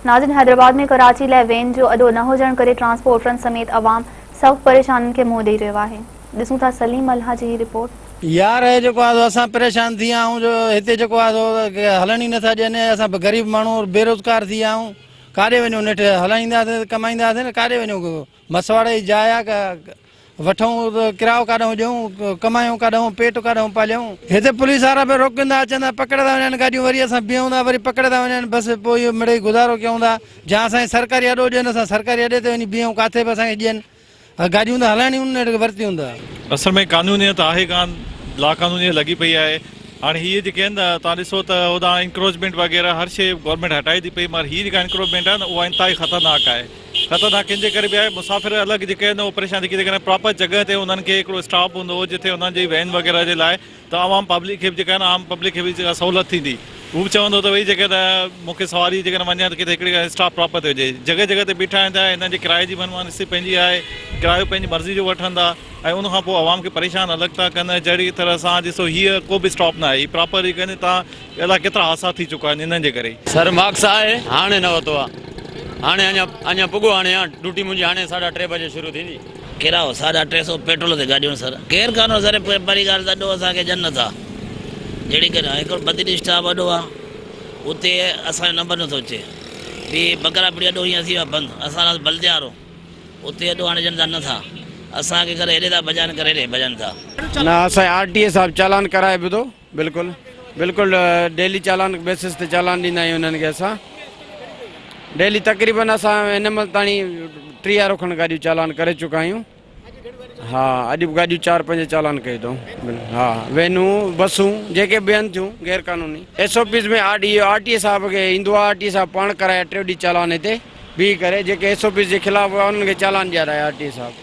ناظرين حيدرآباد ۾ ڪراچي لاء وين جو اڏو نه هجڻ ڪري ٽرانسپورٽرن سميت عوام سخت پريشانين کي منهن ڏئي رهيو آهي ڏسون ٿا سليم ملهان جي هي رپورٽ. يار اهي جيڪو آهي سو اسان پريشان ٿي ويا آهيون جو هتي جيڪو آهي سو هلڻ ئي نٿا ڏين ۽ اسان غريب ماڻهو بيروزگار ٿي ويا آهيون ڪاڏي وڃون نيٺ هلائينداسين ڪمائينداسين ڪاڏي وڃون مسواڙ جي جاء آ وٺئون ڪرايو ڪاڏئون ڏيئون ڪمايون ڪاڏئون پيٽ ڪاڏئون پاليئون هتي پوليس وارا به روڪيندا اچن ٿا پڪڙيندا وڃن گاڏيون وري اسان بيهون ٿا وري پڪڙيندا وڃن بس پوء اهو مڙئي گذارو ڪيون ٿا جا اسان کي سرڪاري اڏو ڏين اسان سرڪاري اڏي تي وڃي بيهون ڪاٿي به اسان کي ڏين گاڏيون ته هلائڻيون نه ورتيون ته اصل ۾ قانونيت آهي ڪان لا قانونيت لڳي پئي آهي هاڻي هي جيڪي آهن تان ڏسو ته هوڏانهن انڪروچمينٽ وغيره هر شي گورنمينٽ هٽائي ٿي پئي مگر هي جيڪا انڪروچمينٽ آهي نه اها انتهائي خطرناڪ آهي خطرناڪ ان جي ڪري به آهي مسافر الڳ جيڪي آهن اهي پريشان جيڪي جيڪڏهن پراپر جڳهه تي انهن کي هڪڙو اسٽاپ هوندو هو جتي انهن جي وين وغيره جي لاء ته عوام پبلڪ کي به جيڪا آهن عام پبلڪ کي به جيڪا سهولت ٿيندي هو به چوندو ته ڀئي جيڪڏهن مون کي سواري جيڪڏهن وڃي ته ڪٿي هڪڙي اسٽاپ پراپر تي هجي جڳهه جڳهه تي بيٺا آهن ته انهن جي ڪرايي جي من مانسي پنهنجي آهي ڪرايو پنهنجي مرضي جو وٺن ٿا ۽ ان کان پوء عوام کي پريشان الڳ ٿا ڪن جهڙي طرح سان ڏسو هيء ڪو به اسٽاپ نه آهي هي پراپر جيڪڏهن تان اهڙا ڪيترا حادثا ٿي چڪا آهن انهن جي ڪري ئي. سر ماڪس آء هاڻي نه ورتو آ هاڻي اڃا اڃا پڳو هاڻي آ ڊوٽي منهنجي هاڻي ساڍا ٽي بجي شروع ٿيندي. ڪرايو ساڍا ٽي سو پيٽرول تي گاڏيون سر ڪير ڪانو سر پهرين ڳالهه ته اڏو اسان کي جنت آ جهڙي ڪري هڪڙو بدين اسٽاپ اڏو آ اتي اسان جو نمبر نٿو اچي ٻي بکرا پڙي اڏو هينئر ٿي ويو آ بند اسان لاء بلديا وارو اتي اڏو هاڻي ڏين ٿا نه ٿا اسان کي ڪري هيڏي ٿا ڀڄائين ڪري هيڏي ڀڄن ٿا. نه اسان آر ٽي اي صاحب چالان ڪرائي به ٿو. بلڪل بلڪل ڊيلي چالان بيسس تي چالان ڏيندا آهيون انهن کي اسان ڊيلي تقريبن اسان هن مهل تاڻي ٽيهارو کن گاڏيون چالان ڪري چڪا آهيون ها اڄ به گاڏيون چار پنج چالان ڪيو اٿئون ها وينون بسون جيڪي بيهن ٿيون غير قانوني S O Ps ۾ R D R T صاحب کي ايندو آر ٽي صاحب پاڻ ڪرائي ٽيو ڏينهن چالان هتي بيهي ڪري جيڪي ايس او پيز جي خلاف هئا انهن کي چالان ڏيارائي آر ٽي صاحب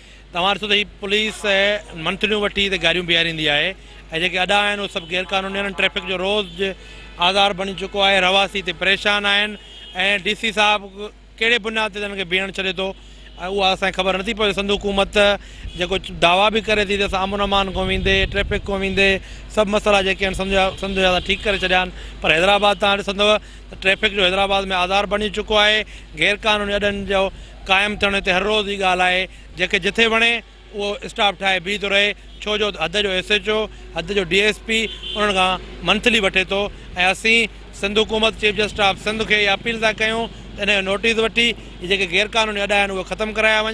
توهان ڏسو ته هي پوليس منٿليون وٺي هتي گاڏيون بيهاريندي آهي ۽ جيڪي اڏا آهن اهي سڀ غير قانوني آهن ٽريفڪ جو روز جو آزار بڻي چڪو آهي رهواسي هتي پريشان آهن ۽ ڊي سي صاحب ڪهڙي بنياد تي انهن کي بيهڻ ڇڏي ٿو اها اسان کي خبر نٿي پوي سنڌ حڪومت جيڪو دعويٰ به ڪري ٿي ته اسان امن امان کان ويندي ٽريفڪ کان ويندي سڀ مسئلا جيڪي آهن سنڌ جا سنڌ جا ٺيڪ ڪري ڇڏيا آهن پر حيدرآباد توهان ڏسندو ته ٽريفڪ جو حيدرآباد ۾ آزار بڻي چڪو آهي غير قانوني اڏن جو قائم ٿيڻ هتي هر روز جي ڳالهه آهي، جنهن کي جٿي وڻي اهو اسٽاف ٺاهي بيهي ٿو رهي، ڇو جو حد جو ايس ايڇ او، حد جو ڊي ايس پي انهن کان منٿلي وٺي ٿو ۽ اسين سنڌ حڪومت، چيف جسٽس آف سنڌ کي اها اپيل ٿا ڪيون ته ان جو نوٽيس وٺي هي جيڪي غيرقانوني اڏا آهن اهي ختم ڪرايا وڃن.